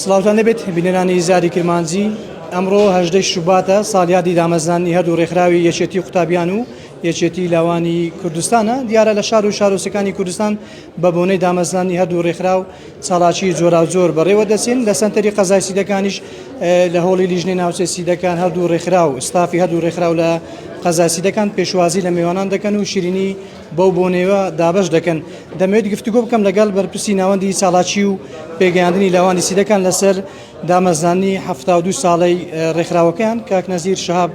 سڵاوتان لێبێت بینەرانی زاری کرمانجی ئەمڕۆ هەژدەی شوباتە ساڵیادی دامەزرانی هەردوو ڕێکخراوی یەکێتی قوتابیان و یەکێتی لاوانی کوردستانە دیارە لە شار و شارۆسەکانی کوردستان بە بۆنەی دامەزرانی هەردوو ڕێکخراو چاڵاکی جۆراوجۆر بەڕێوە دەچین لە سەنتەری قەزای سیدەکانیش لە هۆڵی لیژنەی ناوچەی سیدەکان هەردوو ڕێکخراو ستافی هەردوو ڕێکخراو لە قەزاسی دەکەن پێشوازی لە میوانان دەکەن و شیرینی بەو بۆنەیەوە دابەش دەکەن. دەمەوێت گفتوگۆ بکەم لەگەڵ بەرپرسی ناوەندی چالاکی و پێگەیاندنی لاوانی سیدەکان لەسەر دامەزراندنی حەفتا و دوو ساڵەی ڕێکخراوەکەیان، کاک نەزیر شەهاب.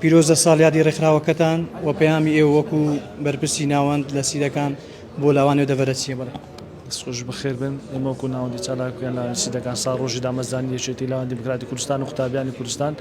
پیرۆزە ساڵیادی ڕێکخراوەکەتان و پەیامی ئێوە وەکو بەرپرسی ناوەند لە سیدەکان بۆ لاوان و دەڤەرە چییە؟ دەست خۆش بەخێربێن ئێمە وەکو ناوەندی چالاکوان لاوانی سیدەکان ساڵ ڕۆژی دامەزرانی یەکێتی لاوانی دیموکراتی کوردستان و قوتابیانی کوردستان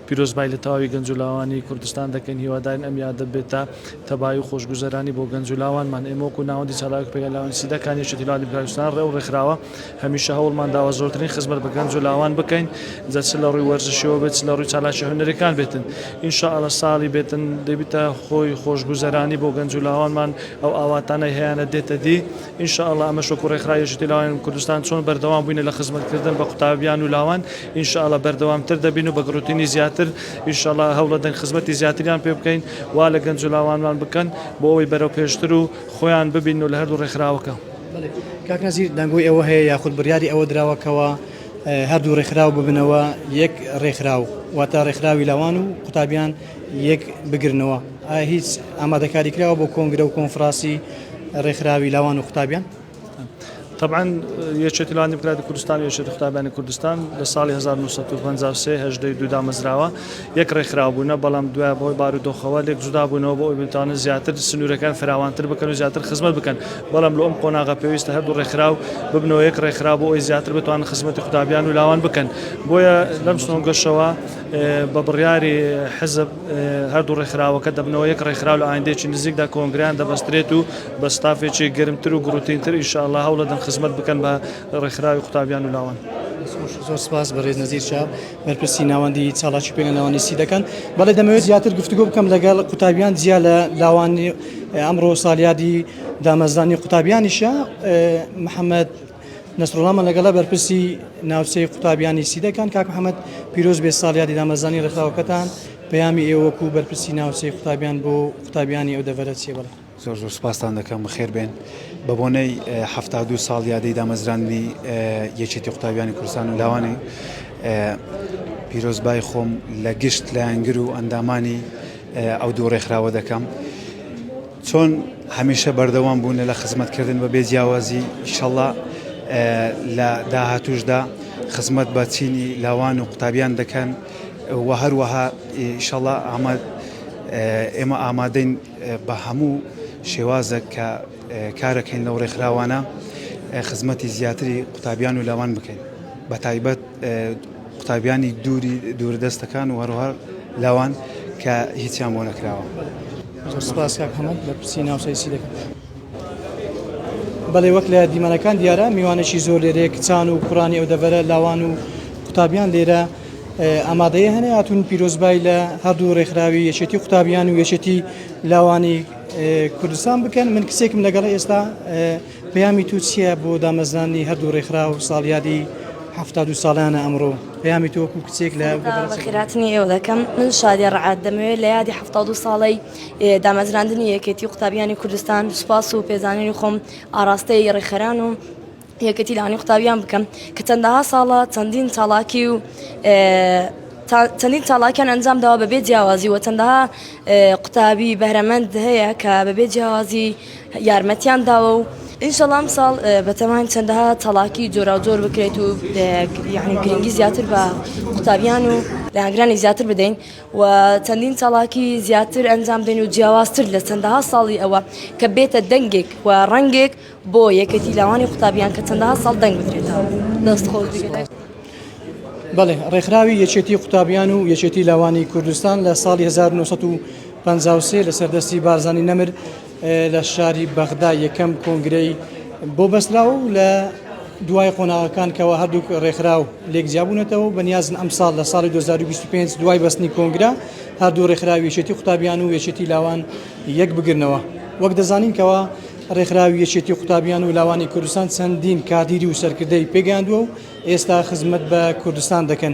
پیرۆزبایی لە تەواوی گەنج و لاوانی کوردستان دەکەین هیوادارین ئەم یادە بێتە تەبایی و خۆشگوزەرانی بۆ گەنج و لاوانمان ئێمە وەکو ناوەندی چالاک پێگە لاوانی سیدەکان یەکێتی لاوانی دیموکراتی کوردستان ڕێ و ڕێکخراوە هەمیشە هەوڵمان داوە زۆرترین خزمەت بە گەنج و لاوان بکەین جا چ لە ڕووی وەرزشیەوە بێت چ لە ڕووی چالاکی هونەریەکان بێتن ان شاء اللە ساڵی بێتن دەبیتە هۆی خۆشگوزەرانی بۆ گەنج و لاوانمان ئەو ئاواتانەی هەیانە دێتە دی ان شاء اللە ئەمەش وەکو ڕێکخراوی یەکێتی لاوانی کوردستان چۆن بەردەوام بووینە لە خزمەتکردن بە قوتابیان و لاوان ان شاء اللە بەردەوامتر دەبین و بە گڕوتینی زیاتر ان شاء اللە هەوڵەدەن خزمەتی زیاتریان پێ بکەین وا لە گەنج و لاوانمان بکەن بۆ ئەوەی بەرەوپێشتر و خۆیان ببینن و لە هەردوو ڕێکخراوەکە. کاک نەزیر دەنگۆی ئەوە هەیە یاخود بڕیاری ئەوە دراوە کەوا هەردوو ڕێکخراو ببنەوە یەک ڕێکخراو واتە ڕێکخراوی لاوان و قوتابیان، یەک بگرنەوە ئایا هیچ ئامادەکاری کراوە بۆ کۆنگرە و کۆنفراسی ڕێکخراوی لاوان و قوتابیان طبعا یەکێتی لاوان دیموکراتی کوردستان یەکێتی قوتابیانی کوردستان لە ساڵی 1950 هەژدەی دوو دامەزراوە یەک ڕێکخراو بوونە بەڵام دوای بۆی بارودۆخەوە لێک جودا بوونەوە بۆ ئەوبتانە زیاتر سنوورەکان فراوانتر بکەن و زیاتر خزمەت بکەن بەڵام لە ئەم قۆناغە پێویستە هەردوو ڕێکخراو ببنەوە یەک ڕێکخرا بۆ ئەوی زیاتر بتوان خزمەتی قوتابیان و لاوان بکەن بۆیە لەم سۆنگەشەوە بە بڕیاری حزب هەردوو ڕێکخراوەکە دەبنەوە یەک ڕێکخراو لە ئایندەیەکی نزیکدا کۆنگرەیان دەبەسترێت و بە ستافێکی گەرمتر و گوڕوتینتر ان شاء اللە هەوڵەدەن خزمەت بکەن بە ڕێکخراوی قوتابیان و لاوان. زۆر سپاس بەڕێز نەزیر شا بەرپرسی ناوەندی چاڵاکی پێنە ناوەندی سی دەکەن بەڵێ دەمەوێت زیاتر گفتوگۆ بکەم لەگەڵ قوتابیان جیا لە لاوانی ئەمڕۆ سالیادی دامەزرانی قوتابیانیشە محەممەد نەسروڵڵا مەلەگەڵە بەرپرسی ناوچەی قوتابیانی سیدەکان کاک محەمەد پیرۆز بێ ساڵیادی دامەزانی ڕێکخراوەکەتان پەیامی ئێوە وەکو بەرپرسی ناوچەی قوتابیان بۆ قوتابیانی ئەو دەڤەرە چیە بەڵێ زۆر زۆر سپاستان دەکەم بەخێر بێن بە بۆنەی هەفتا دوو ساڵ یادەی دامەزراندنی یەکێتی قوتابیانی کوردستان و لاوانی پیرۆزبای خۆم لە گشت لایەنگر و ئەندامانی ئەو دوو ڕێکخراوە دەکەم. چۆن هەمیشە بەردەوام بوونە لە خزمەت کردن بە بێ جیاوازی ئیشەڵا لە داهاتوشدا خزمەت بە چینی لاوان و قوتابیان دەکەن و هەروەها ئیشەڵا ئاماد ئێمە ئامادەین بە هەموو شێوازە کە کارەکەین لەو ڕێکخراوانە خزمەتی زیاتری قوتابیان و لاوان بکەین بە تایبەت قوتابیانی دووری دووردەستەکان و هەروهەر لاوان کە هیچیان بۆ نەکراوە. زۆر سپاس کاک حەمە لە پرسی ناوچەی سیدەکە. بەڵێ وەک لە دیمەنەکان دیارە میوانێکی زۆر لێرەیە کچان و کوڕانی ئەو دەڤەرە لاوان و قوتابیان لێرە ئامادەیە هەنێ هاتوون پیرۆزبای لە هەردوو ڕێکخراوی یەکێتی قوتابیان و یەکێتی لاوانی کوردستان بکەن من کسێکم لەگەڵ ئێستا پەیامی تۆ چیە بۆ دامەزراندنی هەردوو ڕێکخراو ساڵیادی حەفتا و دوو ساڵانە ئەمڕۆ پەیامی تۆ وەکو کچێک لە بە خیراتنی ئێوە دەکەم من شادیە ڕعات دەمەوێت لە یادی حەفتا و دوو ساڵی ئێ، دامەزراندنی یەکێتی قوتابیانی کوردستان سوپاس و پێزانینی خۆم ئاڕاستەی ڕێکخەران و یەکێتی لانی قوتابیان بکەم کە چەندەها ساڵە چەندین چاڵاکی و ئێ، تا چەندین چاڵاکیان ئەنجام داوە بەبێ جیاوازی و چەندەها ئێ، قوتابی بەهرەمەند هەیە کە بەبێ جیاوازی یارمەتیان داوە و ئینشەڵا ئەمساڵ بەتەماین چەندەها تەڵاکی جۆراوجۆر بکرێت و یعنی گرنگی زیاتر بە قوتابیان و لەهاگرانی زیاتر بدەین و چەندین تەڵاکی زیاتر ئەنجام بدەین و جیاوازتر لە چەندەها ساڵی ئەوە کە بێتە دەنگێک و ڕەنگێک بۆ یەکێتی لاوانی قوتابیان کە چەندەها ساڵ دەنگ بدرێتەوە دەست خۆش بەڵێ ڕێکخراوی یەکێتی قوتابیان و یەکێتی لاوانی کوردستان لە ساڵی 1970 پەنجا و سێ لەسەر دەستی بارزانی نەمر لە شاری بەغدا یەکەم کۆنگرەی بۆ بەسترا و لە دوای قۆناغەکان کەەوە هەردووک ڕێکخراو لێک جیابوونەتەوە بەنیازن ئەم ساڵ لە ساڵی 2025 دوای بەستنی کۆنگرا هەردوو ڕێکخراوی یەکێتی قوتابیان و یەکێتی لاوان یەک بگرنەوە وەک دەزانین کەەوە ڕێکخراوی یەکێتی قوتابیان و لاوانی کوردستان چەندین کادیری و سەرکردەی پێگەاندووە و ئێستا خزمەت بە کوردستان دەکەن.